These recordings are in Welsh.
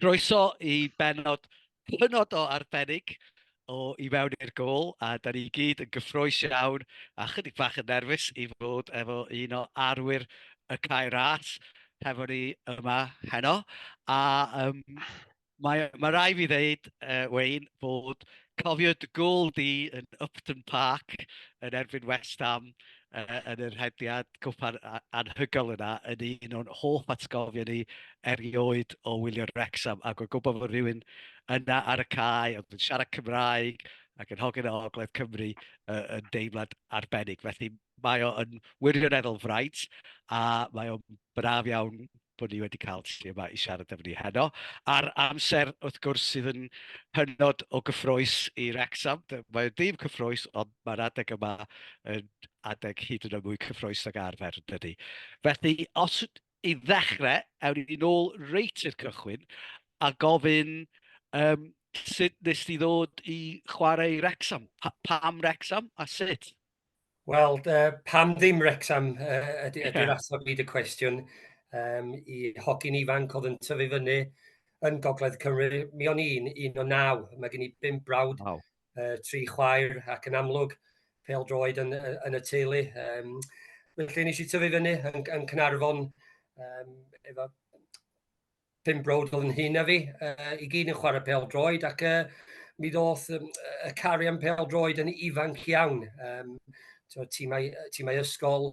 Croeso i benod hynod o arbennig o I Mewn i'r Gôl, a da ni gyd yn gyffroes iawn a chydig bach yn nerfus i fod efo un o arwyr y cae ras hefo ni yma heno. A um, mae, mae rai fi ddeud, uh, Wayne, bod cofio dy gôl di yn Upton Park yn erbyn West Ham uh, yn yr hediad cwpan anhygoel yna yn un o'n hoff atgofion ni erioed o wylio'r Wrexham ac o'n gwybod bod rhywun yna ar y cae oedd yn siarad Cymraeg ac yn hogyn o Ogledd Cymru uh, yn deimlad arbennig. Felly mae o yn wirioneddol fraint a mae o'n braf iawn bod ni wedi cael ti yma i siarad efo ni heno, a'r amser, wrth gwrs, sydd yn hynod o gyffroes i Wrecsam. Mae o'n dim cyffroes, ond mae'r adeg yma yn adeg hyd yn oed mwy cyffroes ag arfer, yn dydy. Felly, os i ddechrau, ewn ni'n ôl reit i'r cychwyn, a gofyn um, sut nes ti ddod i chwarae i Wrecsam? Pa, pam Wrecsam a sut? Wel, uh, pam ddim Wrexham uh, ydy'r yeah. ateb i dy cwestiwn um, i hogyn ifanc oedd yn tyfu fyny yn Gogledd Cymru. Mi o'n i'n un o naw, mae gen i bum brawd, wow. uh, tri chwaer ac yn amlwg pel droed yn, yn y teulu. Um, felly nes i tyfu fyny yn, yn Cynarfon um, efo pum brawd oedd yn hŷn na fi, uh, i gyd yn chwarae pel droed, ac uh, mi ddoth um, y cari am pel droed yn ifanc iawn. Um, tîmau, tîmau ysgol,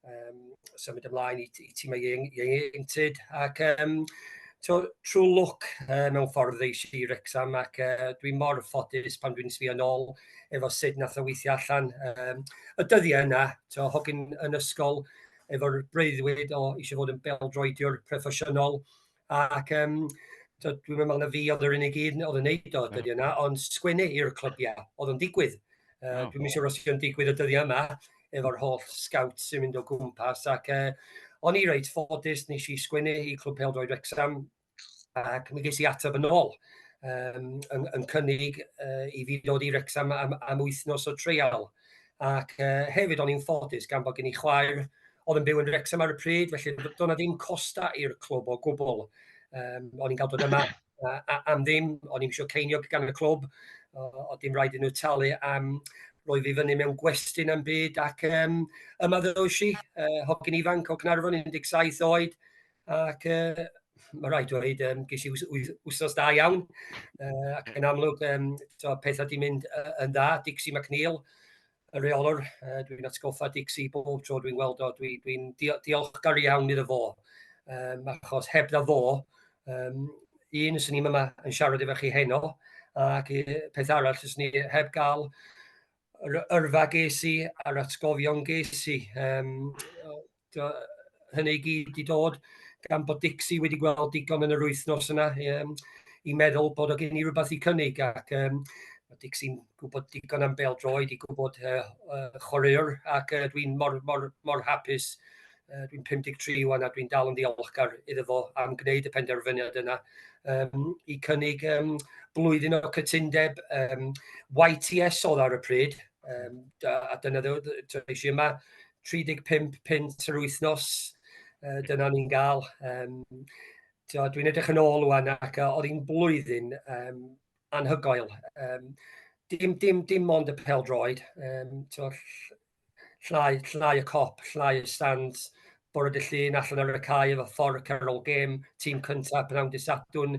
um, symud ymlaen i, i tîmau ieuenctid, ac um, to, trwy lwc uh, mewn ffordd ddeis i Rexham, ac uh, dwi'n mor ffodus pan dwi'n sbio nôl efo sut nath o weithio allan. Um, y dyddiau yna, to, hogyn yn ysgol, efo'r breuddwyd o eisiau fod yn bêl-droediwr proffesiynol, ac um, dwi'n meddwl na fi oedd yr unig un oedd yn neud o dyddiau yna, ond sgwennu i'r clybiau, oedd o'n digwydd. Uh, dwi'n meddwl os yw'n digwydd y dyddiau yma, efo'r holl scout sy'n mynd o gwmpas, ac uh, o'n i reit ffodus, nes i sgwennu i Clwb Peldroed Wrexham, ac mi ges i ateb yn ôl, um, yn, yn cynnig uh, i fi ddod i Wrexham am, am wythnos o treial. Ac uh, hefyd o'n i'n ffodus gan bod gen i chwaer oedd yn byw yn Wrexham ar y pryd, felly doedd na ddim costa i'r clwb o gwbl. Um, o'n i'n cael dod yma a, a, am ddim, o'n i'n eisiau ceiniog gan y clwb, o, o dim rhaid i nhw talu am roi fi fyny mewn gwestiwn am byd ac um, yma ddoes i, uh, hogyn ifanc o Gnarfon 17 oed, ac yy ma' raid dweud yym ges i wth- wyth- wythnos da iawn, yy ac yn amlwg yym tibod petha 'di mynd yy yn dda, Dixie McNeil y rheolwr yy dwi'n atgoffa Dixie bob tro dwi'n weld o dwi dwi'n dio- diolchgar iawn iddo fo yym achos hebddo fo yym un 'swn i'm yma yn siarad efo chi heno ac yy peth arall fyswn i heb ga'l yr yrfa ges i a'r atgofion ges i yym Tibod, hynny i gyd 'di dod gan bod Dixie wedi gweld digon yn yr wythnos yna um, i meddwl bod o gen i rhywbeth i cynnig ac um, mae Dixie'n gwybod digon am bel droed i gwybod uh, uh, chwaraewr ac uh, dwi'n mor, mor, mor hapus uh, dwi'n 53 wan a dwi'n dal yn ddiolchgar iddo fo am gwneud y penderfyniad yna um, i cynnig um, blwyddyn o cytundeb um, YTS oedd ar y pryd um, a dyna ddew, eisiau yma 35 punt yr wythnos, uh, dyna ni'n gael. Um, Dwi'n edrych yn ôl wan ac uh, oedd hi'n blwyddyn um, anhygoel. Um, dim, dim, dim ond y pel droed, um, to, llnau, llnau y cop, llnau y stand, bore dy llun allan ar y cae efo ffordd Carol Game, tîm cyntaf pnawn dy sadwn,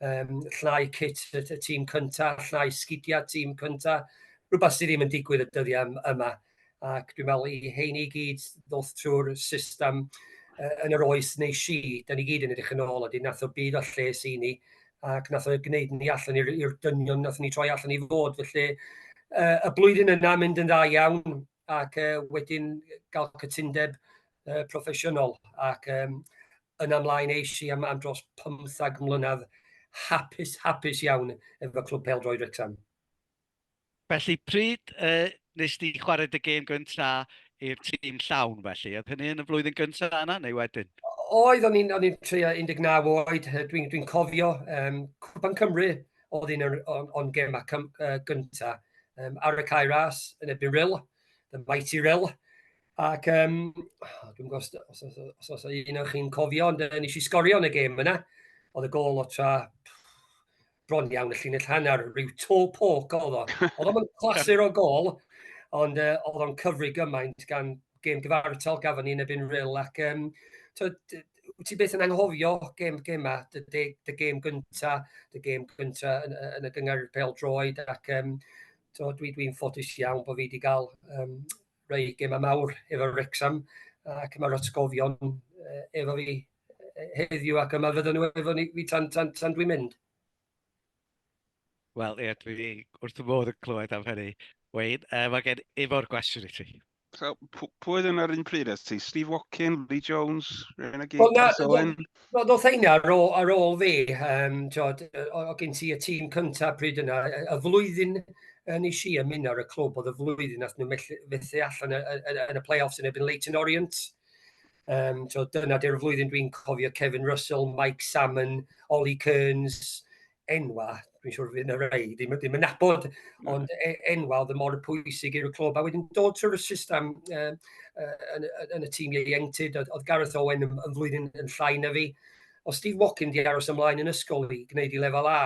um, llnau cit y, y tîm cyntaf, llnau sgidiau tîm cyntaf, rhywbeth sydd ddim yn digwydd y dyddiau yma. Um, ac dwi'n meddwl i heini i gyd ddoth trwy'r system uh, yn yr oes neu si, da ni gyd yn edrych yn ôl, a di nath o byd o lles i ni, ac nath o gwneud ni allan i'r dynion nath ni troi allan i fod, felly uh, y blwyddyn yna mynd yn dda iawn, ac uh, wedyn gael cytundeb uh, proffesiynol, ac um, yn amlaen eisi am, am dros 15 mlynedd hapus, hapus iawn efo Clwb Peldroed Wrexham. Felly pryd yy nes di chwarae dy gêm gynta i'r tîm llawn felly? Oedd hynny yn y flwyddyn gynta yna neu wedyn? Oedd, o'n i'n o'n i'n tua 19 oed, dwi'n dwi'n cofio um, Cwpan Cymru oedd un o'n gemau cym, uh, gynta um, ar y cae ras yn ebyn Rill, the mighty Rill. Ac um, dwi'n gwybod os, os, os, os, os un o'ch chi'n cofio, ond uh, nes i sgorio yn y gêm yna. Oedd y gol o tra bron iawn y llinell hanner, rhyw to poc oedd o. Oedd o'n clasur o gol, ond uh, oedd o'n cyfri gymaint gan gêm gyfartal gafon ni yn ebyn ril, ac um, ti beth yn anghofio gêm gema, dy, dy, dy gêm gynta, dy gêm gynta yn, yn y gyngar pel droed, ac um, so, dwi, dwi'n ffodus iawn bod fi wedi cael um, rei gema mawr efo Rexham, ac mae'r atgofion uh, efo fi heddiw ac yma fydden nhw efo ni fi tan, tan, tan dwi'n mynd. Wel, ie, dwi wrth y modd yn clywed am hynny. Wayne, uh, mae gen Ifor gwestiwn i ti. So, pwy oedd yna'r un pryd at ti? Steve Watkin, Lee Jones, Rena Gig, well, Chris Owen? No, no, theini ar ôl, ar ôl fi, um, tiod, o, o gen ti y tîm cyntaf pryd yna, y flwyddyn yn ei si ymuno ar y clwb oedd y flwyddyn nath nhw fethu allan yn y playoffs yn ebyn Leighton Orient. Um, so dyna dy'r flwyddyn dwi'n cofio Kevin Russell, Mike Salmon, Ollie Kearns, enwa, dwi'n siŵr fydd yna rei, ddim, ddim yn nabod, no. ond e, enwa oedd y mor pwysig i'r clwb. A wedyn dod trwy'r system uh, uh, yn, yn, y tîm ieuenctid, oedd Gareth Owen yn, yn flwyddyn yn llai na fi. O Steve Watkin di aros ymlaen yn ysgol i gwneud i lefel A,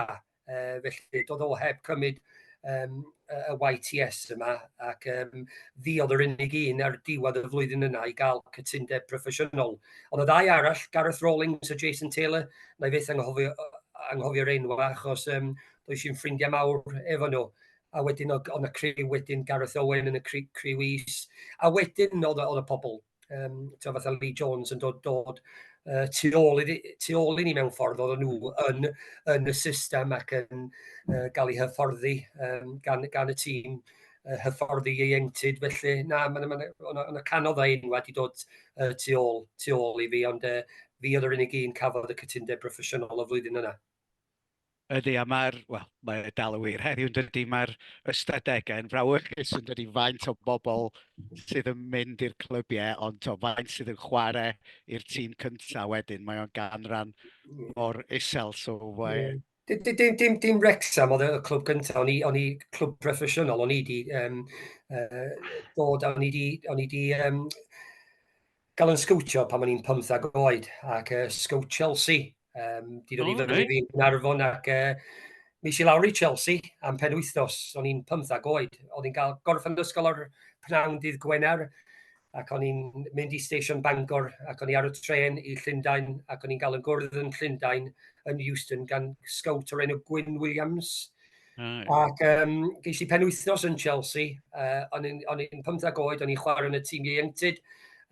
Uh, felly, doedd o heb cymryd um, y YTS yma, ac um, fi oedd yr unig un ar diwedd y flwyddyn yna i gael cytundeb proffesiynol. Ond y ddau arall, Gareth Rawlings a Jason Taylor, na i fyth anghofio, anghofio'r enw achos um, doedd sy'n ffrindiau mawr efo nhw. A wedyn oedd y criw wedyn, Gareth Owen yn y criw is. A wedyn oedd, oedd y pobl um, ti'n fatha Lee Jones yn dod, dod uh, tu, ôl i, tu ôl i ni mewn ffordd oedd nhw yn, yn y system ac yn uh, gael ei hyfforddi um, gan, gan y tîm uh, hyfforddi ieuenctid. Felly, na, mae'n ma, ma, ma, ma canodd a enw wedi dod uh, tu, ôl, tu ôl i fi, ond uh, fi oedd yr unig un cafodd y cytundeb broffesiynol o flwyddyn yna. Ydy, a mae'r... wel, mae e dal yn wir heddiw, yn dydy. Mae'r ystadegau yn frawychus, yn dydy, faint o bobl sydd yn mynd i'r clybiau, ond to, faint sydd yn chwarae i'r tîm cyntaf wedyn, mae o'n ganran mor isel, so mae... Dim, dim, dim, dim, dim Wrexham oedd y clwb cyntaf, o'n i, o'n i clwb proffesiynol, o'n i di um, uh, dod, o'n i di, o'n i di um, Gallwn sgowtio pan o'n i'n pymtheg oed, ac yy sgowt Chelsea. Um, di dod i fyny i fi'n Arfon ac uh, mi si lawr i Chelsea am pen wythnos. O'n i'n pymtheg oed. O'n i'n cael gorffen ysgol o'r pnawn dydd Gwener ac o'n i'n mynd i Station Bangor ac o'n i ar y tren i Llundain ac o'n i'n cael yn gwrdd yn Llundain yn Euston gan sgowt o'r enw Gwyn Williams. Mm. Ac um, geis i penwythnos yn Chelsea, uh, o'n i'n 15 oed, o'n i'n chwarae yn y tîm ieuenctid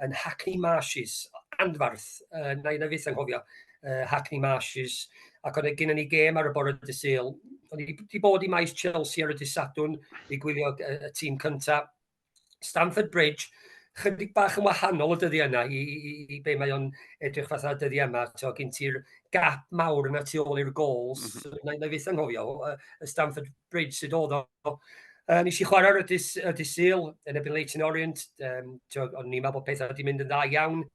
yn Hackney Marshes, anfarth, uh, na i na fyth anghofio, uh, Hackney Marshes, ac o'n gynnu ni gêm ar y bore dy syl. O'n i wedi bod i maes Chelsea ar y dysadwn, i gwylio y, y tîm cyntaf, Stamford Bridge, chydig bach yn wahanol o dyddiau yna i, i, i, i be mae o'n edrych fath o dyddiau yma. So, gyn ti'r gap mawr yna tu ôl i'r gols. Mm -hmm. Na, na fyth anghofio, y Stamford Bridge sydd oedd o. Uh, nes i chwarae'r ydys, ydys Sil yn ebyn Leighton Orient, um, o'n ni'n meddwl bod pethau wedi mynd yn dda iawn,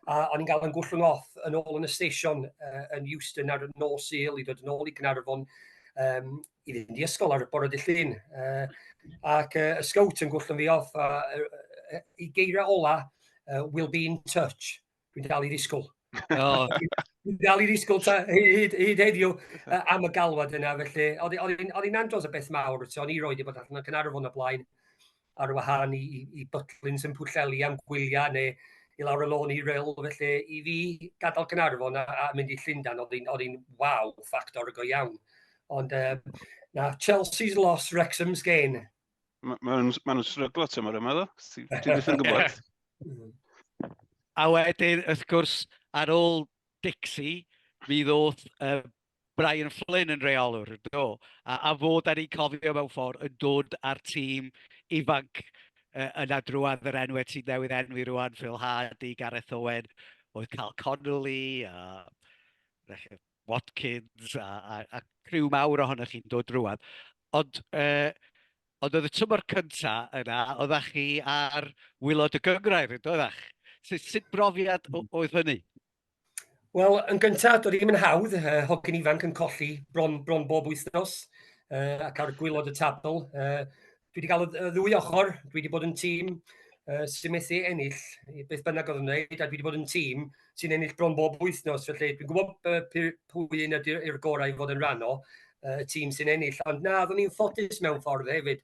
a o'n i'n cael yn gwllwng off yn ôl yn y station uh, yn Euston ar y nos Sil i ddod yn ôl i Gnarfon, um, i fynd i ysgol ar y bore dy llun. Uh, ac uh, y scout yn gwrthyn fi off, a uh, i geiriau ola, uh, will be in touch. Dwi'n dal i ddisgwyl. Oh. Dwi'n dal i ddisgwyl ta, hyd, hyd heddiw uh, am y galwad yna, felly. Oedd hi'n andros o beth mawr, o'n i roed i bod allan yn Cynarfon y blaen. ar wahân i, i, i Butlins yn Pwllheli am gwyliau neu i lawr y lôn i rel, felly i fi gadael Gynarfon a, a mynd i Llundain oedd hi'n oedd hi'n waw ffactor go iawn. Ond uh, na, Chelsea's loss, Wrexham's gain. Mae ma nhw'n ma nhw sryglo tymor yma, ddo. Ti ddim yn gwybod. a wedyn, wrth gwrs, ar ôl Dixie, mi ddoth uh, Brian Flynn yn reolwr, do, a, a fod ar ei cofio mewn ffordd yn dod â'r tîm ifanc uh, yna drwad yr enwau sy'n newydd enwi rwan, Phil Hardy, Gareth Owen, oedd Cal Connolly, a Watkins, a, a, a criw mawr ohonoch chi'n dod drwad. Ond, uh, ond oedd y tymor cyntaf yna, oeddech chi ar wylod y gyngrair, yn doeddech? Sut, sut brofiad oedd hynny? Wel, yn gyntaf, doedd ddim yn hawdd. Uh, hogyn ifanc yn colli bron, bron bob wythnos uh, ac ar gwylod y tabl. Uh, dwi wedi cael y ddwy ochr, dwi wedi bod yn tîm uh, sy'n methu ennill beth bynnag oedd yn wneud, a dwi wedi bod yn tîm sy'n ennill bron bob wythnos. Felly, dwi'n gwybod uh, pwy un ydy'r gorau i fod yn rhan o uh, y tîm sy'n ennill. Ond na, oeddwn i'n ffodus mewn ffordd hefyd.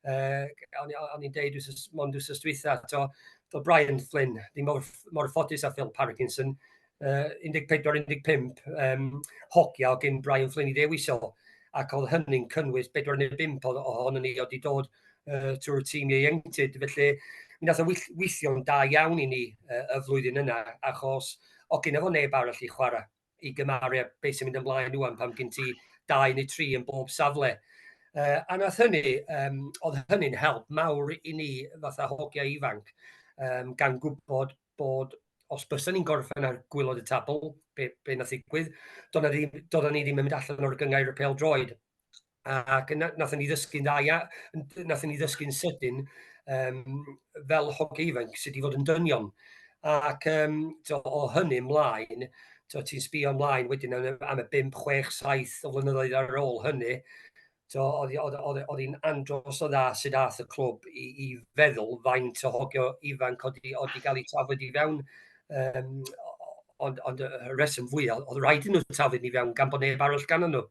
uh, o'n, on i'n deud wrth mond wrth ystwytha, to, to Brian Flynn, di mor, mor ffodus a Phil Parkinson, uh, 14-15 um, hogia o gyn Brian Flynn i ddewis o, ac oedd hynny'n cynnwys 45 o, o hon yn ei oedd i dod uh, trwy'r tîm ieuenctid, felly mi nath o weithio'n da iawn i ni uh, y flwyddyn yna, achos o gyn efo neb arall i chwarae. i gymaru â beth sy'n mynd ymlaen rwan pan gen ti dau neu tri yn bob safle. Uh, a nath hynny, um, oedd hynny'n help mawr i ni fatha hogiau ifanc, um, gan gwybod bod os bysa ni'n gorffen ar gwylod y tabl, be, be na ddigwydd, doedden ni, ni ddim yn mynd allan o'r gyngair y pel droed. ac na, nathon ni ddysgu'n dda ia, nathon ni ddysgu'n sydyn um, fel hogiau ifanc sydd wedi fod yn dynion. Ac um, to, o hynny ymlaen, to, ti'n sbio ymlaen wedyn am, am y 5, 6, 7 o flynyddoedd ar ôl hynny, to, oedd hi'n andros o dda sydd ath y clwb i, i feddwl faint o hogio ifanc oedd wedi cael ei tafod i fewn um, ond, ond y rheswm fwyaf, oedd rhaid yn nhw tafod i fewn gan bod neb arall gan nhw.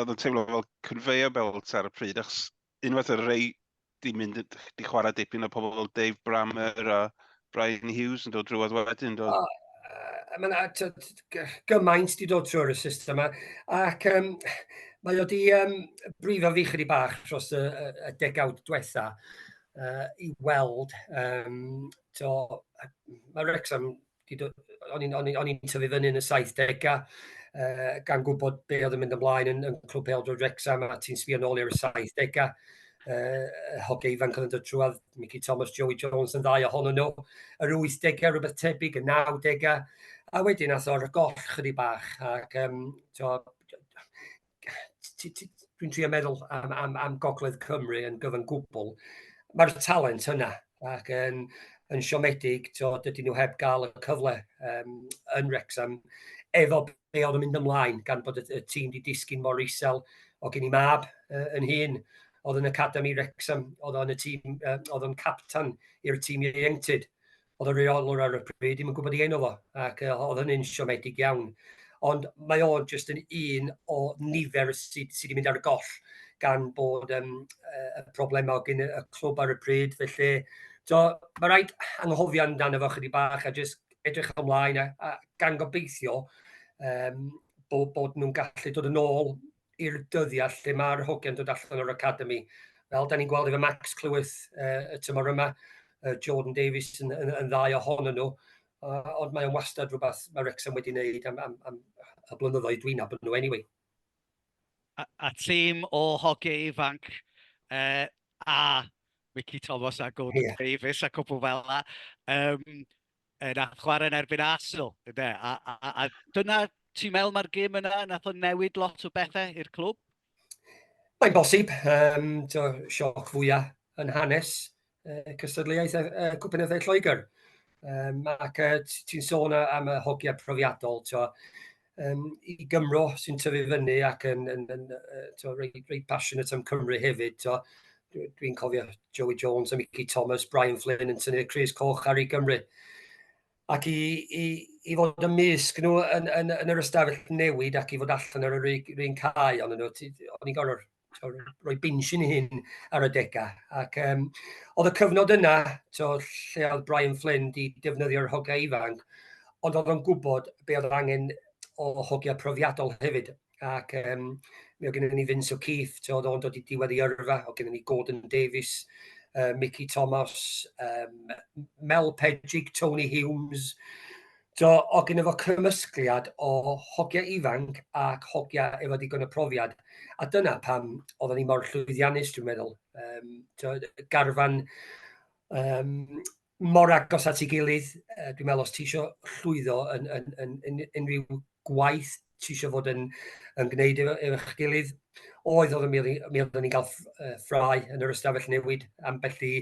oedd yn teimlo fel conveyor belt ar y pryd, achos unwaith y rei di mynd, di chwarae dipyn o pobl fel Dave Brammer a Brian Hughes yn dod drwodd wedyn, dod. Oh, uh, mae yna gymaint di dod trwy'r system yma, ac um, mae o di um, brifo fi chydig bach dros y, y, y degawd diwetha uh, i weld, um, to, mae Wrexham o'n i'n o'n i'n o'n i'n tyfu fyny yn y 70au uh, gan gwybod be oedd yn mynd ymlaen yn, yn Clwb Peldrod Wrexham a ti'n sbio nôl i'r 70au uh, hoge ifanc oedd yn dod trwad, Mickey Thomas, Joey Jones yn ddau ohonyn nhw, yr 80au rhywbeth tebyg, y 90au, a wedyn ath o'r goll chydig bach ac um, to, dwi'n trio meddwl am, am, am Gogledd Cymru yn gyfan gwbl, mae'r talent yna ac yn, yn siomedig, to, dydyn nhw heb gael y cyfle um, yn Wrexham efo be oedd yn mynd ymlaen gan bod y, y tîm wedi disgyn mor isel o gen i mab uh, yn hun oedd yn Academi Wrexham, oedd o'n y tîm, uh, oedd o'n captan i'r tîm ieuenctid. oedd y reolwr ar y pryd ddim yn gwybod ei enw fo, ac uh, oedd hynny'n siomedig iawn. Ond mae o'n jyst yn un o nifer sydd sy wedi mynd ar y goll gan bod um, y problemau gen y clwb ar y pryd. Felly, so, mae rhaid anghofio amdano fo chydig bach a jyst edrych ymlaen a, a gan gobeithio um, bod, bod nhw'n gallu dod yn ôl i'r dyddiau lle mae'r hogiau'n dod allan o'r academi. Fel da ni'n gweld efo Max Clywys uh, y tymor yma, uh, Jordan Davies yn, yn, yn ddau ohonyn nhw, uh, ond mae'n wastad rhywbeth mae Rexham wedi wneud am, am, am y blynyddoedd dwi'n abod nhw anyway. A, a tîm o hogi ifanc uh, a Mickey Thomas a Gordon yeah. Davies a cwpl fel yna. Um, e, nath chwarae yn erbyn Arsenal, ynde? A, a, a, a dyna, ti'n meddwl mae'r gym yna, nath o'n newid lot o bethau i'r clwb? Mae'n bosib, um, to, sioc fwyaf yn hanes uh, cystadleuaeth uh, e, Cwpynyddiau Lloegr. Um, ac uh, ti'n sôn am y hogiau profiadol, to, yym i Gymro sy'n tyfu fyny ac yn yn yn yy t'mo' reit reit passionate am Cymru hefyd t'mo' dwi dwi'n cofio Joey Jones a Mickey Thomas, Brian Flynn yn tynnu'r crys coch ar ei Gymru. Ac i i i fod ymysg nhw yn yn yn yr ystafell newid ac i fod allan ar yr un cae o'n nhw o'n i'n gorfod rhoi binsh yn hyn ar y degau. Ac um, oedd y cyfnod yna, to, lle oedd Brian Flynn di defnyddio'r hogia ifanc, ond oedd o'n gwybod be oedd angen o hogia profiadol hefyd. Ac um, mi oedd gennym ni Vince O'Keefe, to, oedd o'n dod i diwedd i yrfa, oedd gennym ni Gordon Davies, uh, Mickey Thomas, um, Mel Pedrig, Tony Humes, Do, oedd gynno fo cymysgliad o hogia ifanc ac hogia efo digon o profiad, a dyna pam oedden ni mor llwyddiannus, dwi'n meddwl. Um, to, garfan um, mor agos at ei gilydd, uh, dwi'n meddwl os ti eisiau llwyddo yn, yn, yn, yn unrhyw gwaith ti eisiau fod yn, yn gwneud efo, efo eich gilydd, oedd oedd mi oeddwn ni'n cael ffrau yn yr ystafell newid am bell i,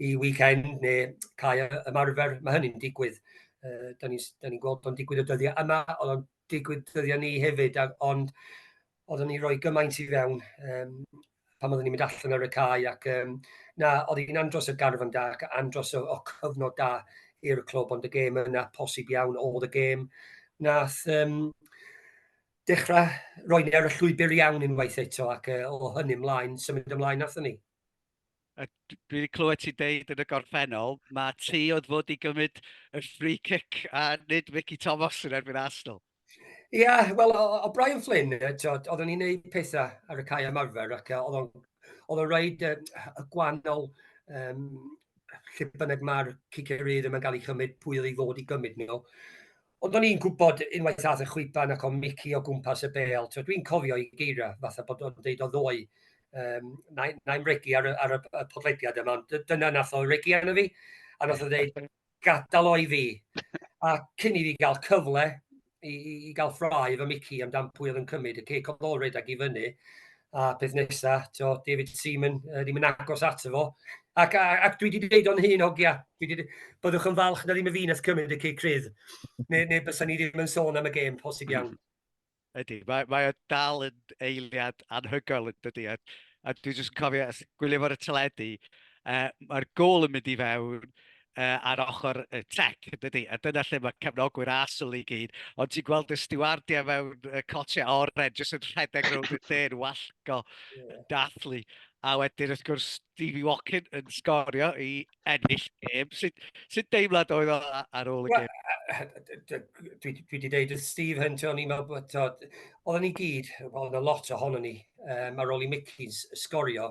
i weekend neu cael ymarfer, mae hynny'n digwydd. Uh, da ni'n ni gweld o'n digwydd y dyddiau yma, oedd o'n digwydd dyddiau ni hefyd, ond oedden ni roi gymaint i fewn um, pan oedden ni'n mynd allan ar y cae ac um, na, oedd hi'n andros o garfan da ac andros o, o cyfnod da i'r clwb, ond y gêm yna posib iawn oedd y gêm. Nath um, dechrau roi ni ar y llwybr iawn unwaith eto ac uh, o hynny ymlaen, symud ymlaen nath ni. Dwi wedi clywed ti deud yn y gorffennol, mae ti oedd fod i gymryd y free kick a nid Mickey Thomas yn erbyn Arsenal. Ie, yeah, wel, o, o Brian Flynn, oedd o'n i'n neud pethau ar y cae ymarfer, ac oedd o'n oedd o'n rhaid uh, y gwannol um, lle bynnag mae'r cicerydd yma'n cael ei chymryd, pwy oedd ei ddod i gymryd nhw. Ond o'n i'n gwybod unwaith ath y chwiban ac o'n mici o gwmpas y bel. Dwi'n cofio i geira, fatha bod o'n deud o ddoi, um, na'i'n na regi ar, ar y podlediad yma, ond dyna nath o regi arno fi, a nath o ddeud, gadael o i fi. A cyn i fi gael cyfle i, i, i gael ffrau fy Mickey amdan pwy oedd yn cymryd y ceic oedd olred ag i fyny. A peth nesa, to, David Seaman, uh, ddim yn agos ato fo. Ac, a, ac dwi wedi dweud o'n hun, hogia, byddwch yn falch na ddim y fi nes cymryd y ceic rydd. Neu, neu bysau ni ddim yn sôn am y gêm, posib iawn. Ydy, mae, mae o dal yn eiliad anhygoel yn dydy. A, a dwi'n just cofio, gwylio fo'r y teledu, uh, mae'r gol yn mynd i fewn uh, ar ochr y tec, yn dydy. A dyna lle mae cefnogwyr asol i gyd. Ond ti'n gweld y stiwardiau mewn uh, cotiau oren, jyst yn rhedeg rownd y lle yn wallgo, yn dathlu. A wedyn, wrth gwrs, Stevie Walkin yn sgorio i ennill gêm. Sut, sut deimlad oedd o ar ôl y gêm? Dwi wedi dweud wrth Steve hyn, o'n i'n meddwl bod... Oedden ni gyd, oedd y lot ohono ni, um, ar ôl i Mickey's sgorio,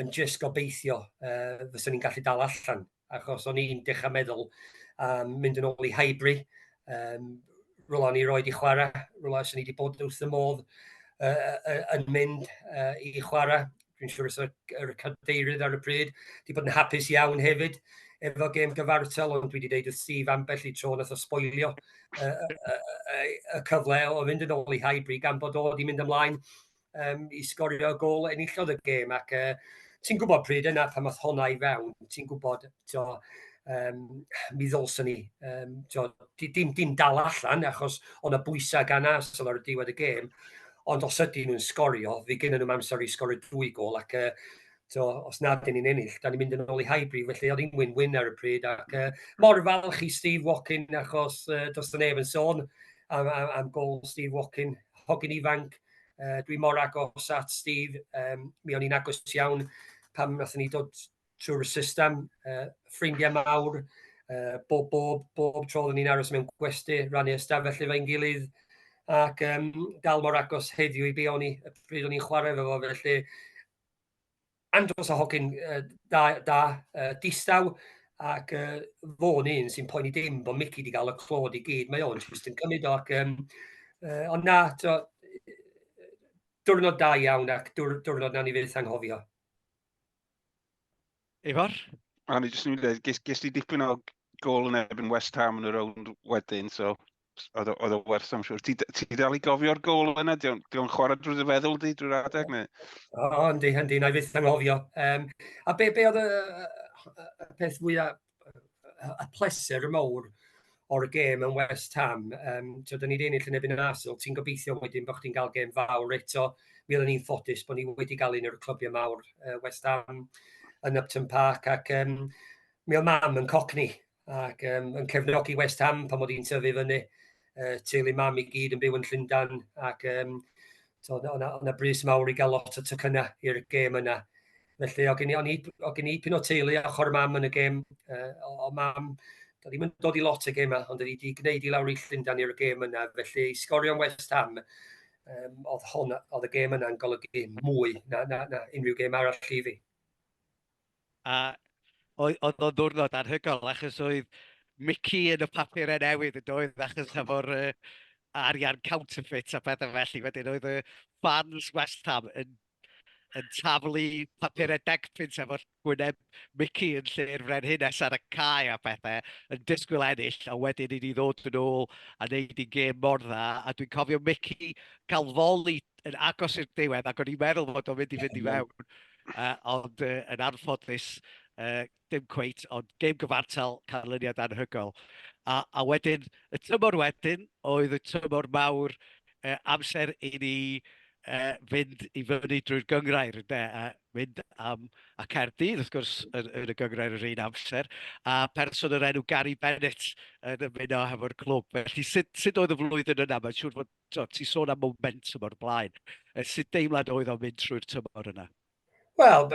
yn just gobeithio uh, fysa ni'n gallu dal allan. Achos o'n i'n dechrau meddwl um, mynd yn ôl i Highbury, um, rola ni roed i chwarae, rola sy'n ni wedi bod wrth y modd uh, uh, yn mynd uh, i chwarae, dwi'n siŵr os yr cadeirydd ar y pryd, wedi bod yn hapus iawn hefyd efo gêm gyfartal, ond dwi wedi deud wrth Steve ambell i tro nath o sboilio y, y, y, y cyfle o fynd yn ôl i Highbury gan bod o wedi mynd ymlaen um, i sgorio gol enillodd y gêm ac uh, ti'n gwybod pryd yna pan math honna i fewn, ti'n gwybod to, um, mi ddolson ni um, to, dim, dim dal allan achos o'na bwysau gan as ar y diwedd y gêm ond os ydyn nhw'n sgorio, fi gynnu nhw'n amser i sgorio dwy gol, ac uh, so, os nad dyn ni'n ennill, da ni'n mynd yn ôl i Highbury, felly oedd hi'n win-win ar y pryd, ac uh, mor falch i Steve Watkin, achos uh, dos y nef yn sôn am, am, am gol Steve Watkin, hogyn ifanc, uh, dwi mor agos at Steve, um, mi o'n i'n agos iawn pan wnaethon ni dod trwy'r system, uh, ffrindiau mawr, uh, bob, bob, bob tro ni'n aros mewn gwesti, rannu ystafell efo'n gilydd, ac um, dal mor agos heddiw i be o'n i, pryd o'n i'n chwarae efo fo, felly andros o hogyn uh, da, da uh, distaw, ac uh, fo'n un sy'n poeni dim bod Mickey wedi cael y clod i gyd, mae o'n just yn cymryd o, ac um, uh, ond na, to, diwrnod da iawn ac diwrnod na ni fyth anghofio. Ifor? A ni jyst yn mynd i ddweud, ges ti dipyn o gol yn ebyn West Ham yn y rownd wedyn, so oedd o werth am siwr. Ti, ti dal i gofio'r gol yna? Di o'n chwarae drwy dy feddwl di, drwy'r adeg? Neu? O, yndi, yndi, na i fyth anghofio. Um, a be, be oedd y, y, y peth fwyaf y pleser y mawr o'r gêm yn West Ham. Um, so, da ni wedi ennill yn ebyn yn Arsenal. Ti'n gobeithio wedyn bod chdi'n cael gêm fawr eto. Mi oedden ni'n ffodus bod ni wedi cael un o'r clybiau mawr uh, West Ham yn Upton Park ac um, mi oedd mam yn cocni ac um, yn cefnogi West Ham pan oedd hi'n tyfu fyny. Uh, teulu mam i gyd yn byw yn Llundan ac um, so, o'na, o'na brys mawr i gael lot o tycynnau i'r gêm yna. Felly, o gen i, o'n i, o gen i pyn o teulu ochr mam yn y gêm, uh, o, o mam, da ddim yn dod i lot y gêm yma, ond wedi wedi gwneud i lawr i Llundan i'r gêm yna, felly i sgorio'n West Ham, um, oedd, hon, oedd y gêm yna'n golygu mwy na, na, na unrhyw gêm arall i fi. A oedd o'n ddwrnod anhygol, achos oedd Mickey yn y papurau newydd yn doedd, achos efo'r uh, arian counterfeit a pethau felly, wedyn oedd y fans West Ham yn yn taflu papurau decpunt efo gwyneb Mici yn lle'r frenhines ar y cae a phethau, yn disgwyl ennill, a wedyn i ni ddod yn ôl a wneud i'n gêm mor dda, a dwi'n cofio Mici cael foli yn agos i'r diwedd ac o'n i'n meddwl fod o'n mynd i fynd i fewn, uh, ond uh, yn anffodus, uh, dim cweit, ond gêm gyfartal, canlyniad anhygoel. A, a wedyn, y tymor wedyn oedd y tymor mawr uh, amser i ni uh, fynd i fyny drwy'r gyngrair, de, a mynd am a Caerdydd, wrth gwrs, yn, yn y gyngrair yr un amser, a person yr enw Gary Bennett yn ymuno hefo'r clwb. Felly, sut, sut oedd y flwyddyn yna? Mae'n siŵr fod, ti'n sôn am momentum o'r blaen. Sut deimlad oedd o'n mynd trwy'r tymor yna? Wel,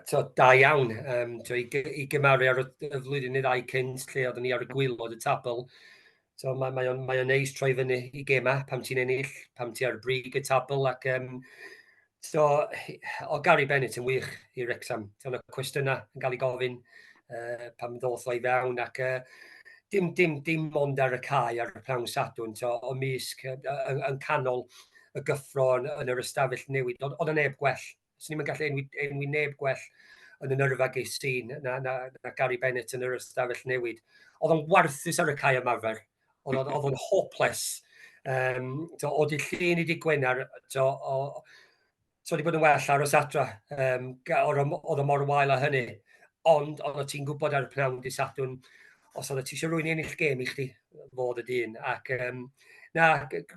to, da iawn. Um, to, i, I gymaru ar y flwyddyn neu ddau cynt lle oeddwn ni ar y gwylod y tabl, to, mae, mae o'n mae neis troi fyny i gema pam ti'n ennill, pam ti ar y brig y tabl ac um, to, o Gary Bennett yn wych i Rexham. To, y cwestiynau yn cael ei gofyn uh, pam ddoth o i fewn ac uh, dim, dim, dim ond ar y cae ar y prawn sadwn, to, o misg yn, yn canol y gyffro yn, yn yr ystafell newid. Oedd, oedd y neb gwell. Swn ni'n gallu enwi, enwi neb gwell yn y nyrfa geis i na, na, na Gary Bennett yn yr ystafell newid. Oedd o'n warthus ar y cae ymarfer. Oedd o'n hopeless. Um, to, o di llun i di gwenar, to, o, so wedi bod yn well aros adra, um, oedd o mor wael a hynny. Ond, oedd o ti'n gwybod ar y pnawn di Sadwn, os oedd o ti eisiau rwy'n ennill gêm i chdi, fod y dyn. Ac, um, na,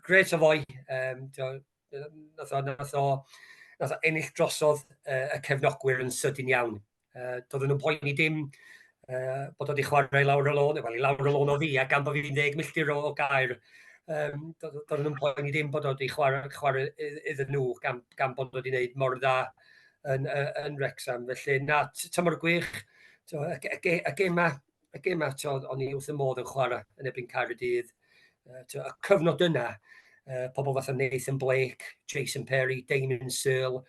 gret o fwy, um, nath o, nath o, nath o ennill drosodd uh, y cefnogwyr yn sydyn iawn. Uh, doedden nhw'n poeni dim uh, bod wedi chwarae lawr y lôn, wel i lawr y lôn o ddi, a gan bod fi'n ddeg milltir o gair, um, doedden nhw'n poeni dim bod wedi chwarae, chwarae iddyn nhw gan, gan bod wedi gwneud mor dda yn, yn Rexham. Felly, na, tymor gwych, y, y, y gemau y gêm yma, tywed, o'n i wrth y modd yn chwarae yn ebyn Caerdydd. Uh, y cyfnod yna, uh, pobl fatha Nathan Blake, Jason Perry, Damon Searle,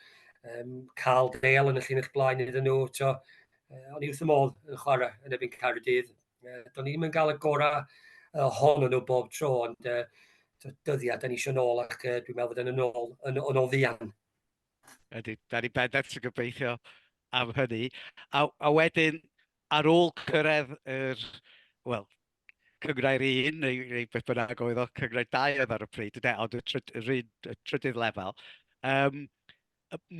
um, Carl Dale yn y llun eich blaen iddyn nhw. Tio, uh, o'n i wrth y modd yn chwarae yn ebyn Caerdydd. Uh, do'n i'n mynd gael y gorau uh, hon nhw bob tro, ond uh, dyddiau, da ni eisiau nôl ac uh, dwi'n meddwl bod yn yn ôl, yn, yn ôl ddian. Ydy, da ni bendant yn gobeithio am hynny. A, a wedyn, Ar ôl cyrraedd yr, wel, cynghrair un, neu, neu beth bynnag oedd o, cynghrair dau oedd ar y pryd, ynde, ond y, tryd, yr un, y trydydd lefel, um,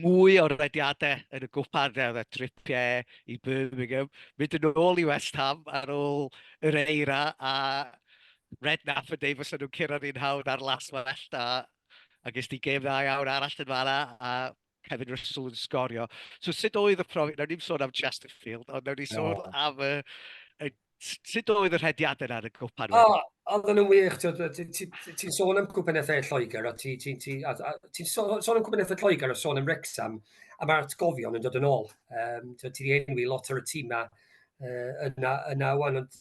mwy o rediadau yn y gwpan, oedd e tripiau i Birmingham, mynd yn ôl i West Ham ar ôl yr eira a Redknapp yn dweud fos nhw'n curo ni'n hawdd ar las well da, a ges ti gêm dda iawn arall yn fanna, a Kevin Russell yn sgorio. So sut oedd y profiad, nawr ni'n sôn am Chesterfield, ond nawr ni'n sôn no. am y, y sut oedd y rhediadau ar y gwpan? O, oh, oedd yn wych, ti'n sôn am gwpan ethau Lloegr, a ti'n ti, ti, ti, sôn am gwpan ethau Lloegr a sôn am Rexham, a mae'r atgofion yn dod yn ôl. Um, ti wedi enwi lot o'r tîmau uh, yna, yna wan, ond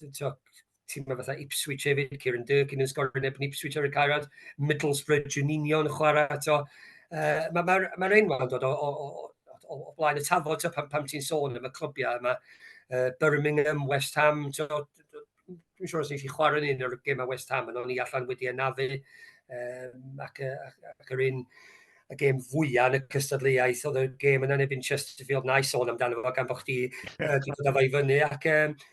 tîmau fatha Ipswich hefyd, Kieran Durkin yn sgorio neb yn Ipswich ar y carad, Middlesbrough, Juninho yn chwarae to. Uh, Mae'r ma, ma, ma enwau yn dod o, o, o, o, o blaen y tafod to, pam, pam ti'n sôn am y clybiau yma. Uh, Birmingham, West Ham, to, dwi'n siŵr os nes i chwarae yn un o'r gemau West Ham, ond o'n i allan wedi anafu, um, ac, ac, ac yr un y gêm fwyaf yn y cystadleuaeth oedd y gêm yna neu Chesterfield na i sôn amdano fo gan bod chdi wedi dod â fo i fyny ac um,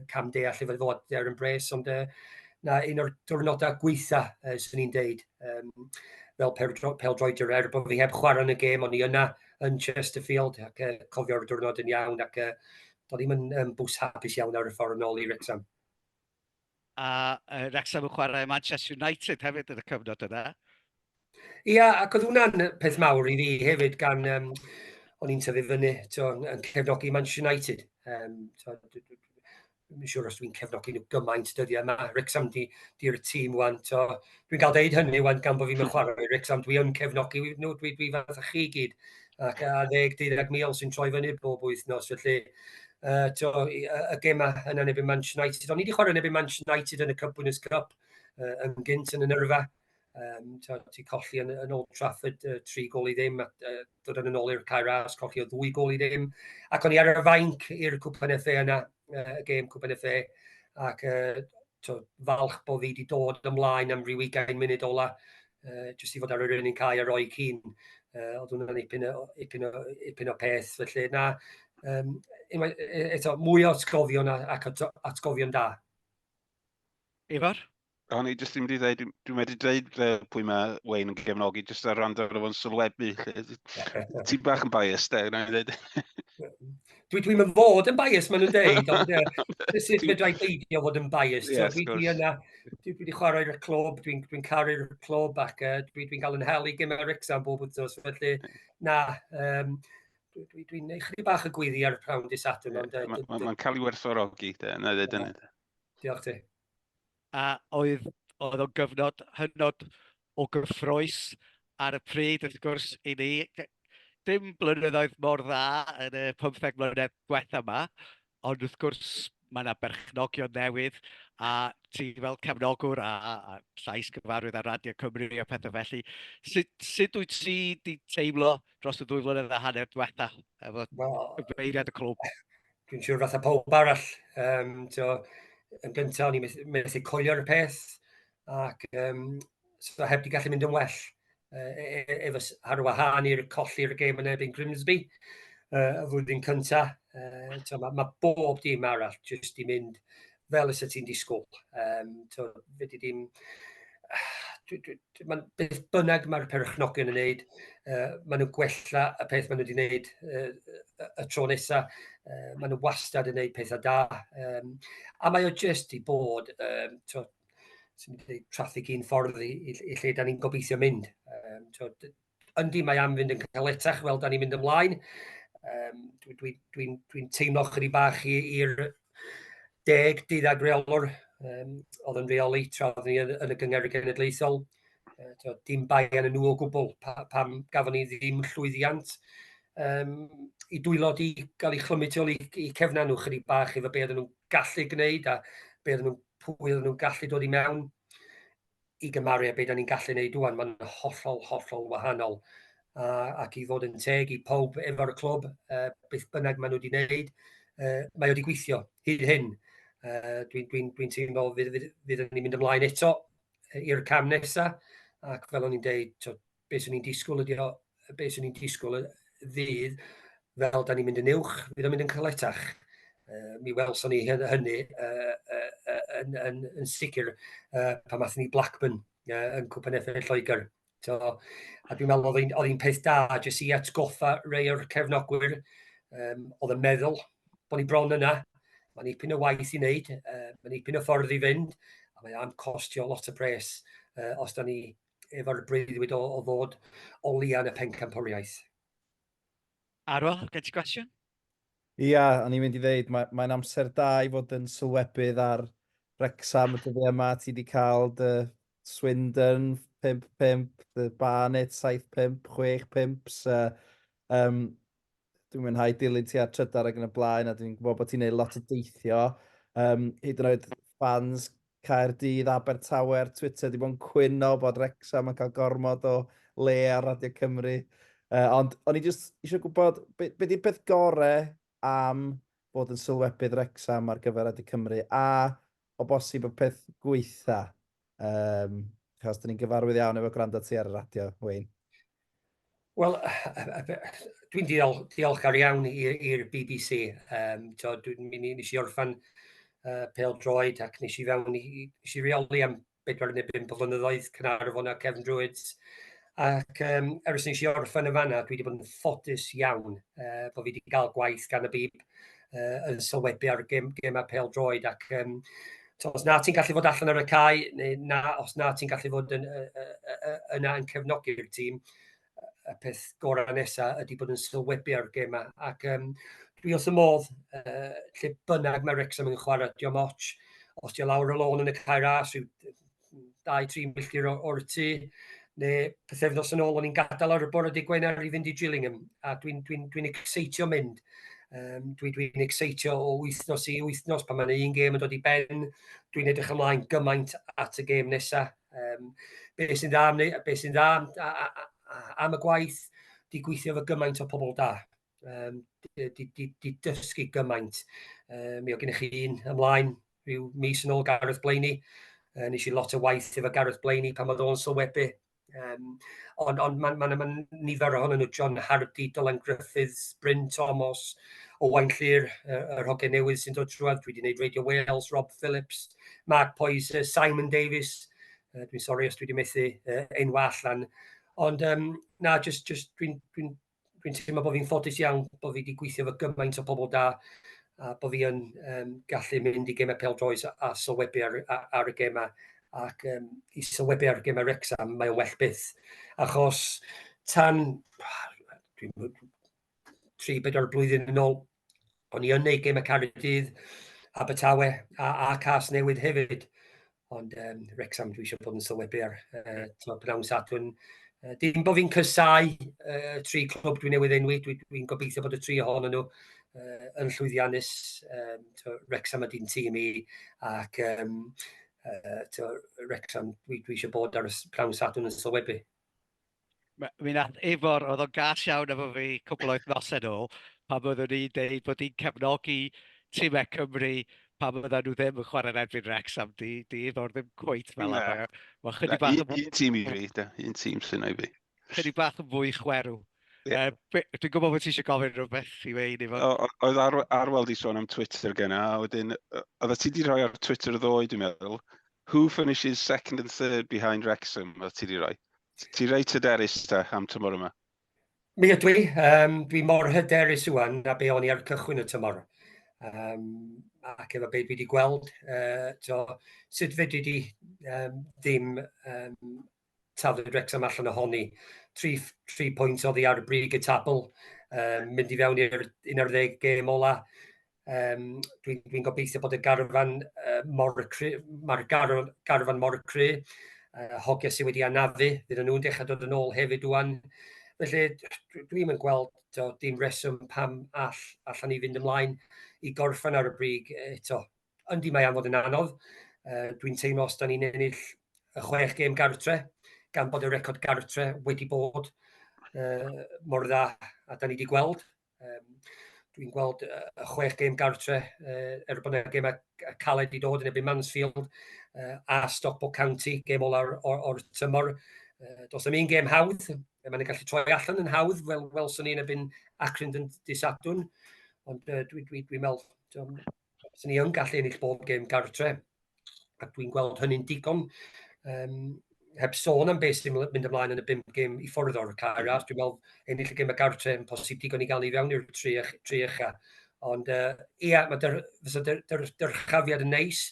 y cam deall efo fod there yn bres, ond uh, na un o'r diwrnodau gweitha, uh, sy'n ni'n deud, um, fel peldroediwr, er bod fi heb chwarae yn y gêm, ond i yna yn Chesterfield, ac uh, cofio'r diwrnod yn iawn, ac uh, doedd ddim yn um, bws hapus iawn ar y ffordd yn ôl i Wrexham. A uh, Wrexham yn chwarae Manchester United hefyd yn y cyfnod yna. Ia, ac oedd hwnna'n peth mawr i fi hefyd gan, um, o'n i'n tyfu fyny to, yn cefnogi Manchester United. Um, to, Mae'n siŵr os dwi'n cefnogi nhw gymaint dyddiau yma. Rexham di, di'r tîm wan. To, dwi'n cael deud hynny wan gan bod fi'n mynd chwarae Rexham. Dwi yn cefnogi nhw, dwi, dwi fath a chi gyd. Ac a ddeg, deuddeg mil sy'n troi fyny bob wythnos. Felly, uh, to, y, y gemau yna neb yn Manchester United. O'n i wedi chwarae neb yn Manchester United yn y Cup Winners' Cup uh, yn gynt yn y nyrfa. Um, ti colli yn, yn Old Trafford uh, tri gol i ddim, a uh, dod yn ôl i'r cair as, colli o ddwy gol i ddim. Ac o'n i ar y fainc i'r Cwpan FA yna, uh, y gêm Cwpan FA, ac uh, to, falch bod fi wedi dod ymlaen am rhyw 20 munud ola, uh, jyst i fod ar yr un cair a roi cyn. Uh, oedd hwnna'n ipyn o, ipyn o, ipyn o peth, felly na, um, eto, mwy o atgofion ac atgofion da. Ifor? O'n i jyst yn mynd i ddweud, dwi'n wedi dweud fe pwy mae Wayne yn gefnogi, jyst ar rand ar o'n sylwebu. Ti'n bach yn biased, e, gwna i ddweud. Dwi, dwi'n mynd fod yn biased, maen nhw'n dweud, ond e, sut fe dweud beidio fod yn biased. Yes, so, dwi, yna, dwi, wedi chwarae i'r clwb, dwi'n dwi caru'r clwb ac uh, dwi'n dwi cael yn hel i gymau Rexham bob wythnos, felly na, um, dwi'n dwi, dwi neu chri bach y gwyddi ar y prawn di Saturn. Mae'n cael ei werthfawrogi, na ddweud yn Diolch ti. a oedd, oedd o'n gyfnod hynod o gyffroes ar y pryd, wrth gwrs, i ni. Dim blynyddoedd mor dda yn y 15 mlynedd diwetha yma, ond wrth gwrs mae yna berchnogion newydd a ti fel cefnogwr a, a, a llais gyfarwydd ar Radio Cymru a pethau felly. Sut, sut wyt ti wedi teimlo dros y ddwy flynedd a hanner diwetha efo well, cyfeiriad y clwb? dwi'n siŵr fatha pawb arall, um, tio, yn gyntaf o'n i'n methu coelio'r peth, ac um, so heb di gallu mynd yn well uh, efo ar wahân i'r colli'r gêm yn ebyn Grimsby uh, y flwyddyn cyntaf. Uh, mae ma bob dim arall jyst i mynd fel ys y ti'n disgwyl. Um, to, fyddi di'n... Mae'n beth bynnag mae'r perchnogion yn wneud, uh, maen nhw'n gwella y peth maen nhw wedi wneud uh, y tro nesaf, uh, maen nhw wastad yn gwneud pethau da. Um, a mae o jyst i bod, um, to, sy'n mynd i traffig un ffordd i, i, i lle da ni'n gobeithio mynd. Um, to, Yndi, mae am fynd yn caletach fel da ni'n mynd ymlaen. Um, Dwi'n dwi, dwi, dwi teimlo chydig bach i'r deg deuddag reolwr um, oedd yn reoli tra oedd ni yn, yn y gyngor genedlaethol. Uh, dim bai yn y nhw o gwbl pa, pam gafon ni ddim llwyddiant um, i dwylo di gael ei chlymu tu ôl i, i cefna nhw chydig bach efo be oedden nhw'n gallu gwneud a be oedden nhw'n pwy oedden nhw'n gallu dod i mewn. i gymaru â beth da ni'n gallu gwneud rwan, mae'n hollol, hollol wahanol. A, ac i fod yn teg i pob efo'r clwb, uh, beth bynnag maen nhw wedi gwneud, uh, mae wedi gweithio hyd hyn. Uh, Dwi'n dwi, dwi, teimlo fydd, fydd, fydd ni'n mynd ymlaen eto i'r cam nesaf, ac fel o'n i'n deud, be swn i'n disgwyl ydi o, be swn i'n disgwyl y ddydd, fel da ni'n mynd yn uwch, fydd o'n mynd yn caletach. Uh, mi welson ni hynny uh, uh, uh, yn, yn, yn sicr uh, pan mathon ni Blackburn uh, yn Cwpan Effaith Lloegr. So, a dwi'n meddwl oedd hi'n peth da jyst i atgoffa rei o'r cefnogwyr um, oedd yn meddwl bod ni bron yna. Mae'n ipyn o waith i wneud, uh, mae'n ipyn o ffordd i fynd, a mae am costio lot o pres uh, os da ni efo'r breuddwyd o, o ddod o lian y pencampwriaeth. Arwel, gen ti gwestiwn? Ia, o'n i'n mynd i ddeud, mae, mae'n amser da i fod yn sylwebydd ar Wrexham y dyddiau yma. Ti wedi cael dy Swindon 5-5, dy Barnet 7-5, 6-5. So, um, dwi'n mwynhau dilyn ti ar trydar ac yn y blaen a dwi'n gwybod bod ti'n neud lot o deithio. Um, hyd yn oed fans Caerdydd, Abertawe ar Twitter di bod yn cwyno bod Rexham yn cael gormod o le ar Radio Cymru. Uh, ond o'n i jyst eisiau gwybod, be, be di'r peth gore am bod yn sylwebydd Rexham ar gyfer Radio Cymru? A o bosib y peth gweitha yym achos 'dyn ni'n gyfarwydd iawn efo gwrando ti ar y radio, Wayne. Wel, dwi'n diol, diolchgar iawn i'r BBC. Um, to, dwi'n mynd i nes i orffan uh, pel droed ac nes i fewn i, nes i reoli am bedwar neu bum o flynyddoedd, Cynarfon a Cefn Druid. Ac um, ers nes i orffen y fanna, dwi wedi bod yn ffodus iawn uh, bod fi wedi cael gwaith gan y bib uh, yn sylwebu ar gem, gem a pel droed ac um, So, os na ti'n gallu fod allan ar y cae, neu na, os na ti'n gallu fod yn, uh, uh, uh, yna yn cefnogi'r tîm, y peth gorau nesaf ydy bod yn sylwebu ar gemau. Ac um, dwi wrth y modd, uh, lle bynnag mae Rexham yn chwarae, diolch moch, os diolch lawr y lôn yn y cair as, rhyw 2-3 milltir o'r tu, neu pethefnos yn ôl, o'n i'n gadael ar y bore di Gwener i fynd i Gillingham, a dwi'n dwi, dwi, dwi exeitio mynd. Um, dwi'n dwi, dwi exeitio o wythnos i wythnos pan mae'n un gêm yn dod i ben. Dwi'n edrych ymlaen gymaint at y gêm nesaf. Um, be sy'n dda am, be sy'n dda am, a, a, a, am y gwaith, di gweithio fy gymaint o pobl da. Um, di, di, di, di dysgu gymaint. Um, mi o gennych chi un ymlaen rhyw mis yn ôl Gareth Blaney. Uh, nes i lot o waith efo Gareth Blaney pan oedd o'n sylwebu. Um, ond on, mae'n ma, ma, ma nifer ohonyn nhw, John Hardy, Dylan Griffiths, Bryn Thomas, Owain Llyr, yr hogen newydd sy'n dod trwad, dwi wedi gwneud Radio Wales, Rob Phillips, Mark Poys, uh, Simon Davies, uh, dwi'n sori os dwi wedi methu uh, ein wall lan. Ond um, na, just, just dwi'n dwi, dwi teimlo bod fi'n ffodus iawn bod fi wedi gweithio fy gymaint o pobl da a bod fi yn um, gallu mynd i gemau pel droes a, a sylwebu ar, ar, ar y gemau ac um, i sylwebu ar y gemau Rexham, mae o'n well byth. Achos tan 3-4 blwyddyn yn ôl, O'n i yn neud gêm y Cardydd, Abertawe a, a Cas Newydd hefyd. Ond um, Rexham dwi eisiau bod yn sylwebu ar uh, pnawn Sadwrn. Uh, dim bod fi'n cysau uh, tri clwb dwi newydd enwi, dwi'n dwi, dwi gobeithio bod y tri ohonyn nhw uh, yn llwyddiannus. Um, to, Rexham ydy'n tîm i ac um, uh, to, Rexham dwi, dwi eisiau bod ar y pnawn Sadwrn yn sylwebu. M- mi wnaeth Ifor, oedd o'n gas iawn efo fi cwpl o wythnosau nôl, pan oeddwn i'n deud bod i'n cefnogi timau Cymru pan oedden nhw ddim yn chwarae yn erbyn Wrexham. Di, di Ifor ddim cweit fel yna. Na. Mae chydig Na, bach... un, un tîm i fi, da. Un tîm sy'n ei fi. Chydig bach yn fwy chwerw. Yeah. Uh, dwi'n gwybod bod ti eisiau gofyn rhywbeth i wein i fod. Oedd ar, Arwel di sôn am Twitter gen a wedyn, oedd ti di rhoi ar Twitter ddoe, dwi'n meddwl, who finishes second and third behind Wrexham, oedd ti di rhoi? Ti reit hyderus ta am tymor yma? Mi ydw i. Um, dwi mor hyderus ywan na be o'n i ar cychwyn y tymor. Um, ac efo be dwi wedi gweld, uh, to, sut fedri di um, ddim um, taflu Wrexham allan ohoni. Tri, tri pwynt oddi ar y brig y tabl, um, mynd i fewn i'r 11 gêm ola. Um, Dwi'n dwi gobeithio bod y garfan uh, mor cry, mae'r garfan, garfan mor cry, uh, hogia sydd wedi anafu, bydd nhw'n dechrau dod yn ôl hefyd dwi'n. Felly, dwi'n yn gweld to, dim reswm pam all, allan ni fynd ymlaen i gorffan ar y brig eto. Yndi mae am fod yn anodd. Uh, dwi'n teimlo os da ni'n ennill y chwech gêm gartre, gan bod y record gartre wedi bod uh, mor dda a da ni wedi gweld Um, dwi'n gweld y uh, chwech gêm gartre, uh, er bod yna gemau caled i dod yn ebyn Mansfield uh, a Stockport County, gêm olau'r or, or tymor. Uh, dos am un gêm hawdd, e, mae'n gallu troi allan yn hawdd, fel welson ni'n ebyn Acrynd yn disadwn, ond uh, dwi'n dwi, dwi meddwl, Os ni yn gallu ennill bob gêm gartre, ac dwi'n gweld hynny'n digon, um, heb sôn am beth sy'n mynd ymlaen yn y bum gêm i ffwrdd o'r cair arall, dwi'n meddwl ennill y gêm y gartre yn posib digon i gael ei fewn i'r tri, tri ucha. Ond uh, ia, mae dyr, fysa dyr, dyr, dyrchafiad yn neis,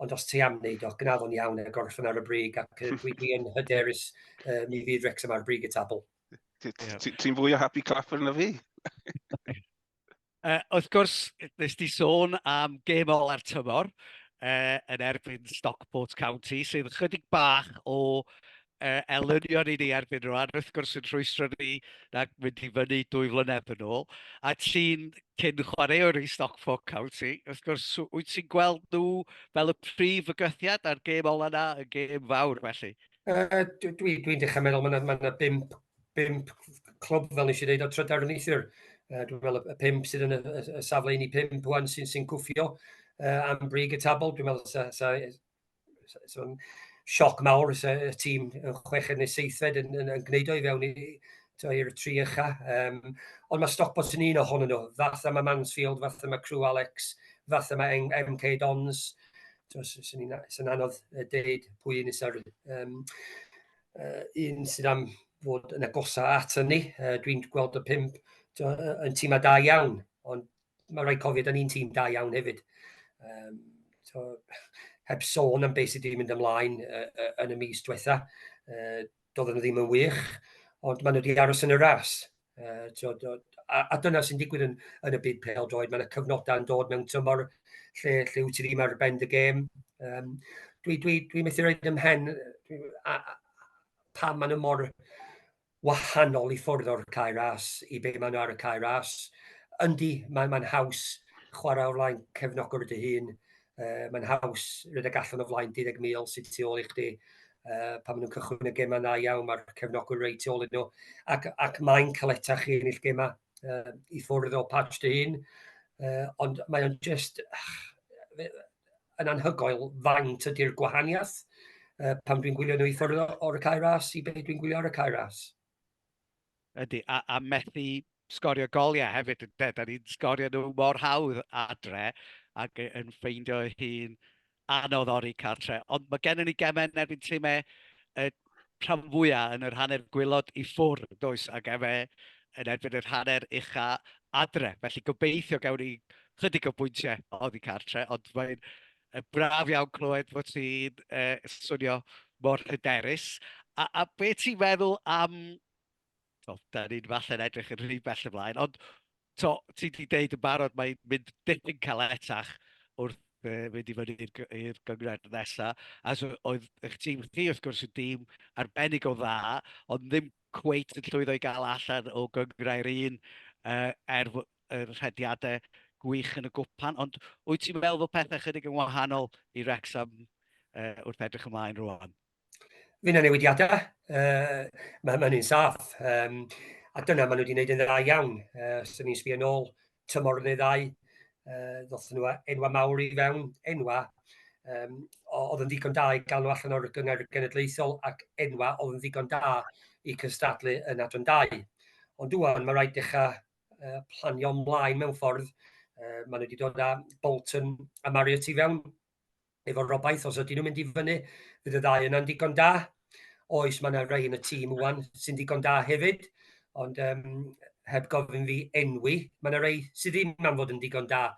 ond os ti am wneud o, gwnaf o'n iawn y gorffen ar y brig, ac dwi, dwi yn hyderus uh, mi fydd Rex yma'r brig y tabl. Ti'n fwy o happy clapper na fi? Uh, wrth gwrs, nes di sôn am gêm ola'r tymor uh, yn erbyn Stockport County, sydd ychydig bach o uh, elynion i ni erbyn rwan, wrth gwrs yn rhwystro ni na mynd i fyny dwy flynedd yn ôl, a ti'n cyn chwaraewr i Stockport County, wrth gwrs, wyt ti'n gweld nhw fel y prif fygythiad a'r gêm ola na, y gêm fawr felly? Uh, Dwi'n dwi, dwi dechrau meddwl, mae yna ma bimp bump clwb, fel nes i ddeud, o trydar yn eithir. Uh, dwi'n meddwl y pump sydd yn y, y, y safle un i pump wan sy'n sy cwffio uh, am brig y tabl. Dwi'n meddwl sa, sa, sa, sa sioc mawr sa, y tîm yn chweched neu seithfed yn, yn, yn gwneud o'i fewn i, i'r tri ycha. Um, ond mae Stockport yn un ohonyn nhw. Fath yma Mansfield, fath yma Crew Alex, fath yma MK Dons. Sy'n anodd deud pwy yn isa'r... Um, uh, un sydd am fod yn agosau at hynny. Uh, Dwi'n gweld y pimp yn tîm a da iawn, ond mae rhaid cofio, da ni'n tîm da iawn hefyd. Um, so, heb sôn am beth sydd wedi mynd ymlaen uh, uh, yn y mis diwetha, uh, doedd nhw ddim yn wych, ond maen nhw wedi aros yn y ras. Uh, so, do, a, a dyna sy'n digwydd yn, yn y byd pel droed. Mae yna cyfnodau yn dod mewn tymor lle, lle wyt ti ddim ar ben dy gêm. Um, dwi, dwi, dwi methu rhaid ym mhen a, a, pa maen nhw mor wahanol i ffwrdd o'r cae ras i be maen nhw ar y cae ras. Yndi, mae'n mae haws chwarae o'r flaen cefnogwr dy hun, Uh, mae'n haws rhedeg allan o flaen 20,000 sydd tu ôl i chdi. Uh, pan maen nhw'n cychwyn y gemau na iawn, mae'r cefnogwyr reit tu ôl iddyn nhw. Ac, ac mae'n caleta chi yn eich gemau uh, i ffwrdd o patch dy hun. Uh, ond mae o'n just yn anhygoel faint ydy'r gwahaniaeth uh, pan dwi'n gwylio nhw i ffwrdd o'r cae ras i beth dwi'n gwylio ar y cae ras. Ydy, a, a methu sgorio goliau hefyd, de, da ni'n sgorio nhw mor hawdd adre ac yn ffeindio hi'n anodd ori cartre. Ond mae gennym ni gemau yn erbyn timau y rhan fwyaf yn yr hanner gwylod i ffwr, does, ac efe yn erbyn yr hanner ucha adre. Felly gobeithio gawn ni chydig o bwyntiau oddi cartre, ond mae'n Braf iawn clywed fod ti'n swnio mor hyderus. A, a be ti'n meddwl am... O, da ni'n falle'n edrych yn rhy bell ymlaen, ond to, ti wedi deud yn barod mae'n mynd dipyn caletach wrth e, mynd i fyny i'r gyngred nesaf. A so, oedd eich tîm chi, wrth gwrs, yn dîm arbennig o dda, ond ddim cweit yn llwyddo i gael allan o gyngrau'r un uh, er yr rhediadau gwych yn y gwpan, ond wyt ti'n meddwl bod pethau chydig yn wahanol i Wrexham uh, wrth edrych ymlaen rwan? Fy na newidiadau, uh, mae hynny'n un saff, um, a dyna maen nhw wedi gwneud yn dda iawn. Uh, os ydym ni'n sbio nôl, tymor yn ei ddau, uh, ddoth nhw enwa mawr i fewn, enwa um, oedd yn ddigon da i gael nhw allan o'r gyngor genedlaethol ac enwa oedd yn ddigon da i cystadlu yn adran dau. Ond dwi'n, mae rhaid dechrau uh, planio mlaen mewn ffordd. Uh, maen nhw wedi dod â Bolton a Marriott i fewn efo robaith, os ydyn nhw'n mynd i fyny, fydd y ddau yna'n digon da. Oes, mae yna rei yn y tîm wwan sy'n digon da hefyd, ond um, heb gofyn fi enwi, mae yna rei sydd ddim am fod yn digon da.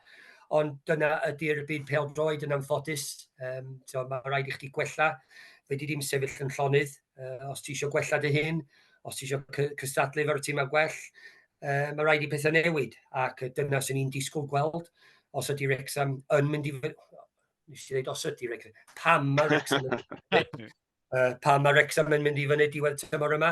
Ond dyna ydy'r byd pel droed yn anffodus. Um, so, mae rhaid i chdi gwella. Fe di ddim sefyll yn llonydd. Uh, os ti eisiau gwella dy hun, os ti eisiau cystadlu efo'r tîm a gwell, uh, mae rhaid i pethau newid, ac dyna sy'n ni'n disgwyl gweld os ydy Rexham yn mynd i... Nes i ddweud os ydy Rexham, pam mae Rexham yn... uh, pam mae Rexham yn mynd i fyny diwedd tymor yma.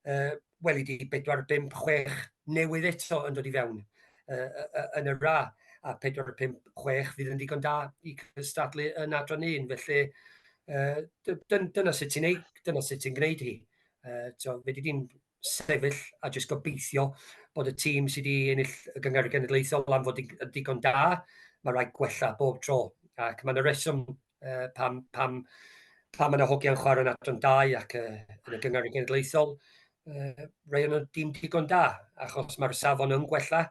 Uh, weli di bedwar, bump, chwech newydd eto yn dod i fewn uh, uh, yn y ra, a pedwar, pump, chwech fydd yn ddigon da i cystadlu yn adran un, felly uh, dyna sut ti'n neud, dyna sut ti'n gwneud hi. Uh, so, fe di di'n sefyll a jyst gobeithio bod y tîm sydd wedi ennill y gyngor genedlaethol am fod yn digon da, mae rhaid gwella bob tro. Ac mae'n y reswm uh, pam, pam, pam yna hogiau'n chwarae yn adran 2 ac uh, yn y gyngor y genedlaethol, uh, rei o'n dim digon da, achos mae'r safon yn gwella,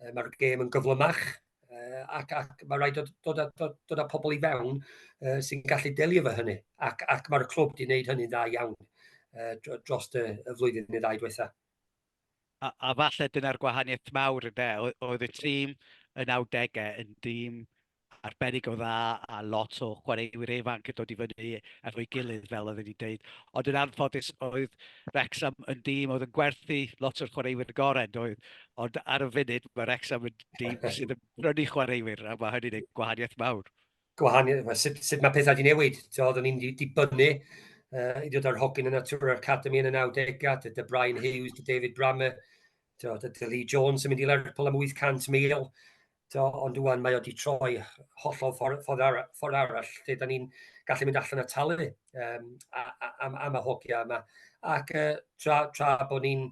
uh, mae'r gêm yn gyflymach, uh, ac, ac mae rhaid dod, dod, a, dod, dod â pobl i fewn uh, sy'n gallu delio fo hynny, ac, ac mae'r clwb wedi gwneud hynny'n dda iawn uh, dros y, y flwyddyn neu ddau diwetha. a, a falle dyna'r gwahaniaeth mawr ynde, oedd y tîm yn 90au yn dîm arbennig o dda a lot o chwaraewyr ifanc yn dod i fyny efo'i gilydd fel oedd wedi dweud. Ond yn anffodus oedd Rexham yn dîm oedd yn gwerthu lot o'r chwaraewyr y gorau doedd. Ond ar y funud mae Rexham yn dîm sydd yn brynu chwaraewyr a mae hynny'n ei gwahaniaeth mawr. gwahaniaeth, sut, sut mae pethau wedi newid. So, oeddwn ni'n dibynnu uh, i ddod ar hogyn y Natura Academy yn y 90au, dy, dy Brian Hughes, dy David Brammer, dy, dy Lee Jones yn mynd i Lerpwl am 800,000, Do, ond dwi'n mae wedi troi hollol ffordd, ffordd, ara, ffordd arall lle da ni'n gallu mynd allan a talu um, am, am y hogia yma. Ac uh, tra, tra bod ni'n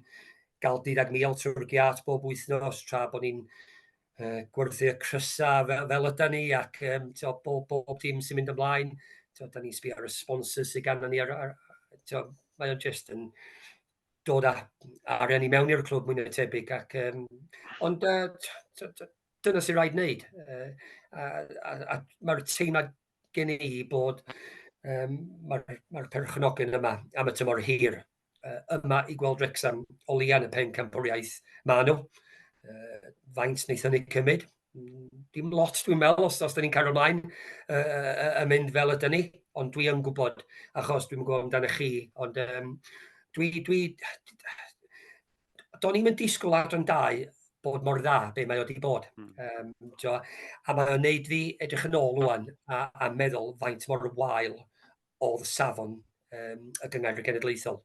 gael 12,000 trwy'r giat bob wythnos, tra bod ni'n uh, gwerthu y crysau fel, fel yda ni ac um, to, bob, bob dim sy'n mynd ymlaen. To, da ni'n sbio ar y sponsors sydd gan ni. Ar, ar, to, mae o'n just yn dod â arian i mewn i'r clwb mwyn y tebyg. Ac, um, ond uh, to, to, dyna sy'n rhaid wneud. Uh, a, a, a mae'r teimlad gen i bod um, mae'r mae perchnogion yma am y tymor hir. yma i gweld Wrexham o leia yn y pen campwriaeth. Mae nhw. Uh, faint wnaethon ni cymryd? Dim lot dwi'n meddwl os, os da ni'n cael ymlaen uh, yn mynd fel ydyn ni, ond dwi yn gwybod, achos dwi'n gwybod amdano chi, ond um, dwi, dwi, do'n i'n mynd disgwyl ar yn dau bod mor dda be mae wedi bod. Mm. Um, tio, a mae'n gwneud fi edrych yn ôl rwan a, a meddwl faint mor wael o safon um, y gyngor genedlaethol.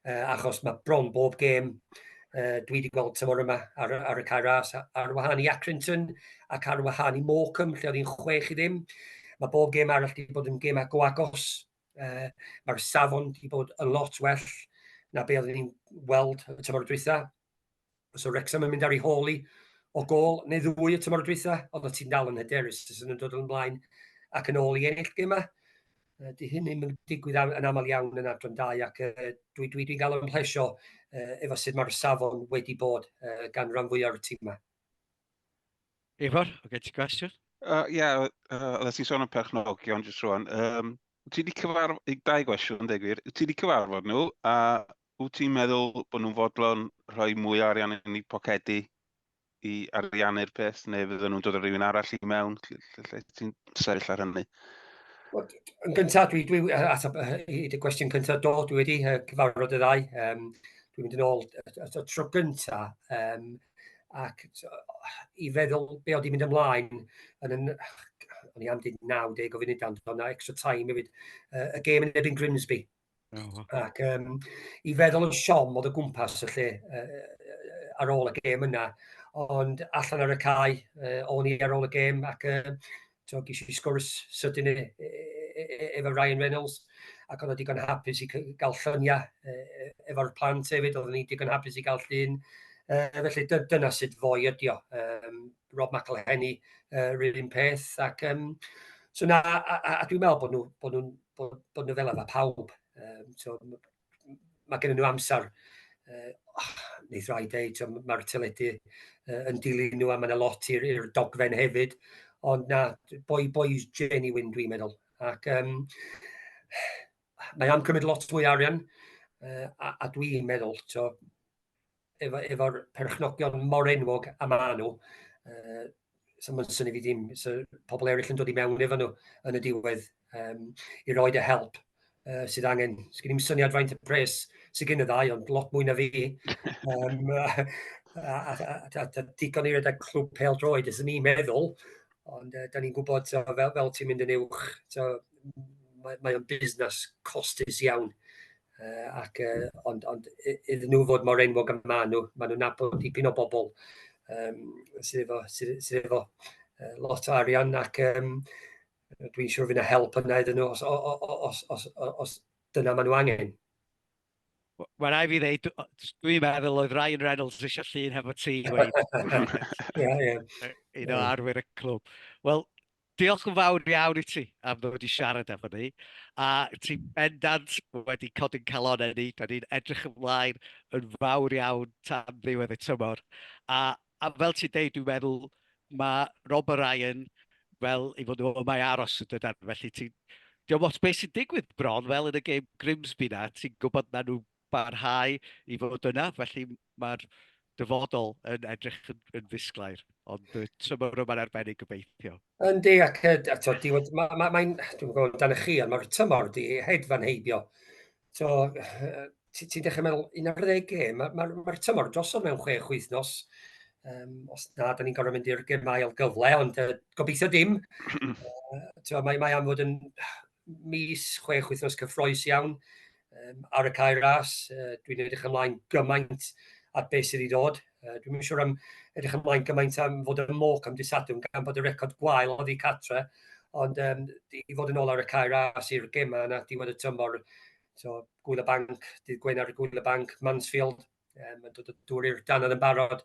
Uh, achos mae bron bob gêm uh, dwi wedi gweld tymor yma ar, ar y cair ras, ar wahân i Accrington ac ar wahân i Morecambe, lle oedd hi'n chwech i ddim. Mae bob gêm arall wedi bod yn gêm ag o agos. Uh, Mae'r safon wedi bod yn lot well na be oeddwn ni'n weld y tymor diwetha. Os o Wrexham yn mynd ar ei hôl i o gol neu ddwy y tymor y dwytha, ond o ti'n dal yn hyderus sy'n yn dod yn blaen ac yn ôl i ennill gemau. Dy hyn ddim yn digwydd yn aml iawn yn adran dau ac uh, dwi, dwi, dwi'n gael ymhlesio uh, efo sut mae'r safon wedi bod uh, gan rhan fwyaf o'r tîmau. Ifor, o gen ti gwestiwn? Uh, Ie, yeah, uh, oeddet ti'n sôn am perchnogion jyst rwan. Um, ti wedi cyfarfod, dau gwestiwn, deg wir, ti wedi cyfarfod nhw, a Wyt ti'n meddwl bod nhw'n fodlon rhoi mwy o arian yn eu pocedi i ariannu'r peth, neu fydden nhw'n dod â rhywun arall i mewn? Lle, lle, lle ti'n sefyll ar hynny? Wel, yn gyntaf, dwi, dwi, ateb, i dy gwestiwn cyntaf, do, dwi wedi uh, cyfarfod y ddau. Um, dwi'n mynd yn ôl y tro gyntaf, um, ac i feddwl be oedd i'n mynd ymlaen, yn, yn, o'n i am dweud 90 o funudau, ond o'na extra time hefyd, uh, y gêm yn ebyn Grimsby, Oh. Ac um, i feddwl yn siom oedd y gwmpas y lle uh, ar ôl y gêm yna, ond allan ar y cae, uh, o'n i ar ôl y gêm ac uh, so, ges i sgwrs sydyn e, e, e, e, efo Ryan Reynolds ac oedd o digon hapus i gael lluniau e, e, efo'r plant hefyd, oedd ni digon hapus i gael llun. E, felly dy, dyna sut fwy ydi o. Um, Rob McElhenney, uh, rhywun peth, ac um, So na, a, a, a dwi'n meddwl bod nhw'n nhw, nhw bod, bod nhw fel yna pawb. Um, so, mae gen nhw amser uh, oh, neith rai dweud, mae'r teledu uh, yn dilyn nhw a mae yna lot i'r dogfen hefyd, ond na, boi boi's genuine dwi'n meddwl. Ac um, mae am cymryd lot mwy arian, uh, a, a dwi'n meddwl, so, efo, efo perchnogion mor enwog a ma nhw, uh, so mae'n syni fi ddim, so pobl eraill yn dod i mewn efo nhw yn y diwedd um, i roed y help uh, sydd angen. Sgyn i'n syniad faint y pres sydd gen y ddau, ond lot mwy na fi. Um, a, a, a, a, a digon i redeg clwb pel droed, ys ni'n meddwl, ond uh, da ni'n gwybod so, fel, fel ti'n mynd yn uwch, so, mae, mae o'n busnes costus iawn Uh, ac, uh, ond, ond iddyn nhw fod mor enwog am maen nhw, maen nhw'n nabod dipyn o bobl um, sydd efo, sydd, sydd efo uh, lot o arian ac um, dwi'n siŵr fydd yna help yna iddyn nhw os, os, os, os, os dyna maen nhw angen. Wel, na i fi ddeud, dwi'n meddwl oedd Ryan Reynolds eisiau llun hefo ti, Wayne. Ie, ie. Un o arwyr y clwb. Wel, Diolch yn fawr iawn i ti am ddod i siarad efo ni, a ti bendant wedi codi'n calonau ni, da ni'n edrych ymlaen yn fawr iawn tan ddiwedd y tymor, a, a fel ti'n deud dwi'n meddwl mae Rob a Ryan fel i fod nhw yma i aros yn dydan, felly ti'n, diolch ots beth sy'n digwydd bron fel yn y gêm Grimsby na, ti'n gwybod na nhw barhau i fod yna, felly mae'r dyfodol yn edrych yn, yn ddisglair, ond y trymor yma'n arbennig gobeithio. Yndi, ac y, a to, di, mae, ma, ma, dwi'n gwybod dan y chi, ond mae'r tymor di hedfan heibio. So, ti'n ti dechrau meddwl, 11 gêm, mae'r ma, ma, ma tymor drosodd mewn chwe chwyth nos. Um, os na, da ni'n gorfod mynd i'r gemau ail gyfle, ond uh, gobeithio dim. uh, mae, mae am fod yn mis, chwech wythnos cyffroes iawn um, ar y cair ras. Uh, dwi'n edrych ymlaen gymaint at beth sydd i ddod. Uh, dwi'n siŵr am edrych ymlaen gymaint am fod y moc am disadwn gan bod y record gwael oedd i catre. Ond um, i fod yn ôl ar y cair ras i'r gemau yna, diwedd y tymor, so, Gwyl y Banc, dydd Gwener Gwyl y Banc, Mansfield, Um, mae'n dod o dŵr i'r danodd yn barod.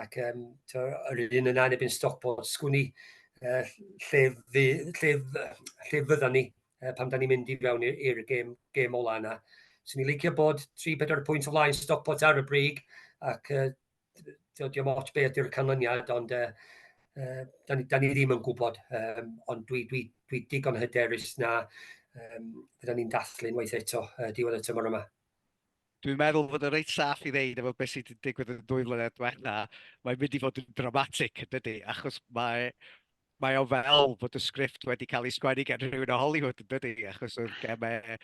Ac um, to, yr un yna yn ebyn stop o sgwni uh, lle, fy, lle, lle fyddan ni uh, pam da ni'n mynd i fewn i'r gêm, gêm ola yna. So ni'n licio bod 3-4 pwynt o flaen stop o ar y brig ac uh, diolch ots beth yw'r canlyniad, ond uh, uh, da, ni, da ni ddim yn gwybod, um, ond dwi, dwi, dwi digon hyderus na um, fydda ni'n dathlu'n waith eto uh, diwedd y tymor yma. Dwi'n meddwl fod yn reit saff i ddeud efo beth sydd wedi digwydd yn dwy flynedd diwetha, mae'n mynd i fod yn dramatic yn dydy, achos mae, mae o fel bod y sgript wedi cael ei sgwennu gan rhywun o Hollywood yn dydy, achos oedd gemau,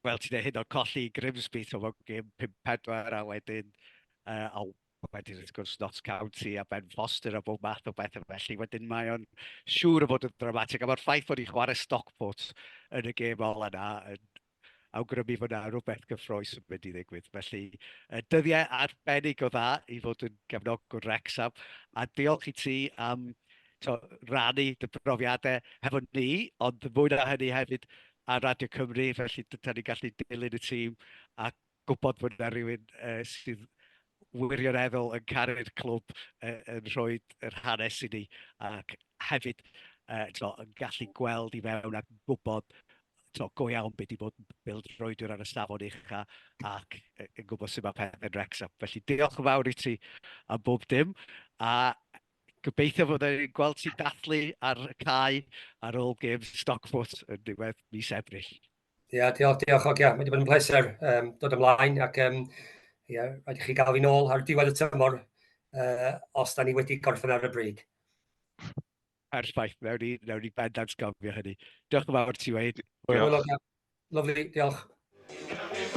fel ti'n dweud hyn o'n colli Grimsby, so fo'n gym 5-4 a wedyn, uh, a wedyn wrth gwrs Notts County a Ben Foster a bob math o bethau felly, wedyn mae o'n siŵr o fod yn dramatic, a mae'r ffaith bod ni'n chwarae Stockport yn y gêm ola yna yn awgrymu fod 'na rywbeth gyffrous yn mynd i ddigwydd. Felly, uh, dyddiau arbennig o dda i fod yn gefnogwr Wrexham, a diolch i ti am to, rannu dy brofiadau hefo ni, ond fwy na hynny hefyd ar Radio Cymru, felly dyna ni'n gallu dilyn y tîm ac gwybod bod 'na rywun sydd wirioneddol yn caru'r clwb, yn rhoi yr hanes i ni, ac hefyd yn gallu gweld i fewn a gwybod go iawn be 'di bod yn bêl-droediwr ar y safon ucha' ac yn gwybod sut mae pethe'n Wrecsam. Felly, diolch yn fawr i ti am bob dim, a gobeithio fydda ni'n gweld ti'n dathlu ar y cae ar ôl gêm Stockport yn ddiwedd mis Ebrill. Ia, diolch, diolch Ogia. Mae wedi bod yn pleser um, dod ymlaen ac um, ia, rhaid i chi gael fi'n ôl ar diwedd y tymor uh, os da ni wedi gorffen ar y bryd. Perffaith, nawr ni, nawr ni bendant gofio hynny. Diolch yn fawr ti, Wayne. Diolch. Lovely, diolch.